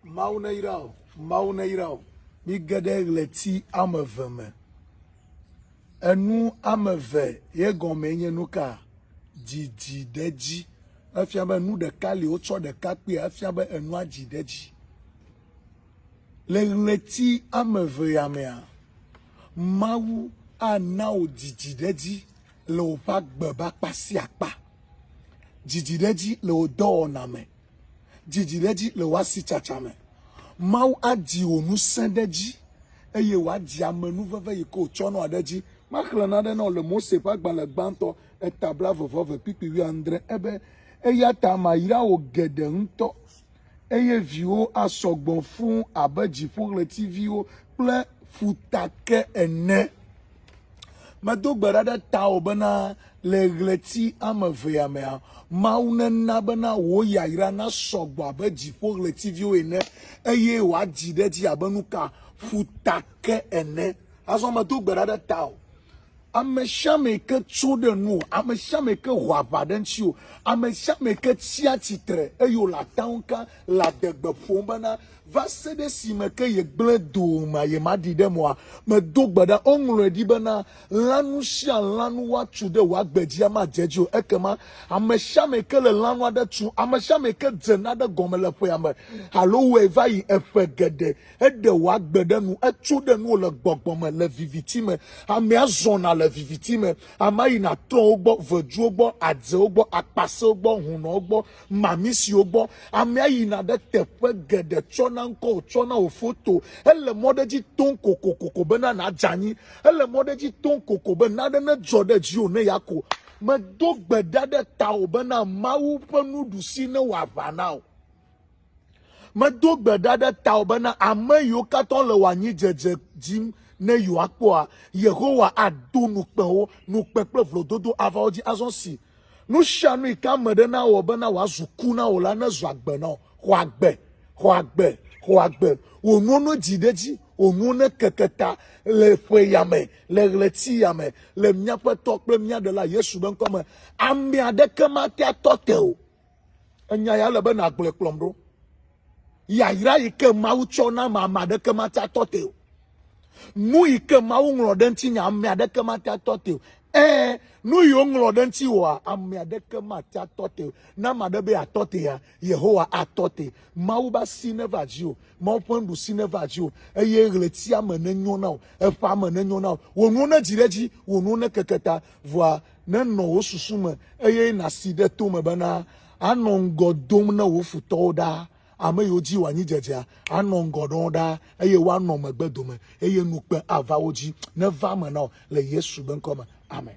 Mawu neyra wò, Mawu neyra wò. Mige ɖe ɣleti ame eve me. Enu ame eve ye gɔmee nye nu ka? Dzidzi ɖe edzi. Efia be nu ɖeka li wotsɔ ɖeka kpea efia be enua dzi ɖe edzi. Le ɣleti ame eve ya mea, Mawu ana wò dzidzi ɖe edzi le woƒe agbe ƒe akpa sia akpa. Dzidzi ɖe edzi le wò dɔwɔna me. Dzidzi ɖe edzi le wò asitsatsa me. Mawu adzi wò ŋusẽ ɖe edzi, eye wòadzi amenuveve yi ke wòtsɔ nɔa ɖe edzi. Maxlẽ nane na wò le Mose ƒe agbalẽ gbãtɔ, eta blaeve-vɔ-eve, kpikpi wuiadre. Ebe, Eya ta mayra wò geɖe ŋutɔ, eye viwòwo asɔ gbɔ fũu abe dziƒoɣletiviwo kple ƒutake ene. Medo gbe ɖa ɖe tawò bena le ɣleti ame evea mea, Mawu nena bena wò yayra nasɔ gbɔ abe dziƒo ɣletiviwo ene eye wòadzi ɖe edzi abe nuka ƒuta ke ene. Azɔ medo gbe ɖa ɖe tawò. Ame sia ame yi ke tso ɖe nuwò, ame sia ame yi ke ho aʋa ɖe ŋutiwò, ame sia ame yi ke tsia tsitre eye wòle atawuka le adegbe ƒom bena Va se ɖe esime ke yegblẽ do ŋa yemaɖi ɖe mɔa me do gbe ɖa. Woŋlɔe ɖi bena, Lãnu sia lãnu woatsu ɖe wò agbe dzia madze edzi o. Ekema ame sia ame ke le lãnu aɖe tsum, ame sia ame ke dze nane gɔme le ƒea me alo wɔe va yi eƒe geɖe, eɖe wò agbe ɖe nu, etso ɖe nuwò le gbɔgbɔ me le viviti me. Amea zɔna le viviti me. Amea yina trɔ̃wo gbɔ, veduwo gbɔ, adzewo gbɔ, akpasɛwo gbɔ, hunɔwo gbɔ, mami siwo gbɔ amea yina ɖe teƒe geɖe tsɔna ŋkɔ wòtsɔna wò foto. Ele mɔ ɖe edzi toŋ kokokoko bena nàdze anyi. Ele mɔ ɖe edzi toŋ koko be nane nedzɔ ɖe dziwò ne ya ko. Medo gbe ɖa ɖe tawò bena Mawu ƒe nuɖusi newɔ aʋa na wò. Medo gbe ɖa ɖe tawò bena ame yiwo katã le wò anyidzedze dim ne yewoakpɔa, Yehowa ado nu kpe wo, nu kpe kple vlododo ava wo dzi azɔ si Nusianu yi ke ame ɖe na wɔ bena wòazu ku na wò la nezu agbe na wò. Xɔ agbe, xɔ agbe, xɔ agbe. Wò nuwo nedzi ɖe edzi, wò nuwo nekeke ta le ƒe ya me, le ɣleti ya me, le mía Ƒetɔ kple mía Ɖela Yesu be ŋkɔ me. Ame aɖeke mate atɔ te o. Enya ya ele be nàgblɔe kplɔm ɖo. Yayra yi ke Mawu tsɔ na ame ame aɖeke mate atɔ te o. Nu yi ke Mawu ŋlɔ ɖe ŋuti nya ame aɖeke mate atɔ te o. Ee, nu yi woŋlɔ ɖe ŋuti wɔa ame aɖeke mate atɔ te o. Ne ame aɖe be atɔ te ya, Yehowa atɔ te. Mawu be asi neva dzi o. Mawu ƒe nuɖusi neva dzi o. Eye ɣletia me nenyo na wò. Eƒea me nenyo na wò. Wò nuwo nedzi ɖe edzi. Wò nuwo nekeke ta. Vɔa nenɔ wò susu me, eye nàsi ɖe to me bena, anɔ ŋgɔ dom na wò futɔwo ɖaa, ame yiwo dzi wò anyidzedzea anɔ ŋgɔ ɖɔm ɖaa, eye woanɔ megbe dome, eye ŋukpe ava wo dzi. Neva eme na wò le Yesu be ŋkɔ me. Amen.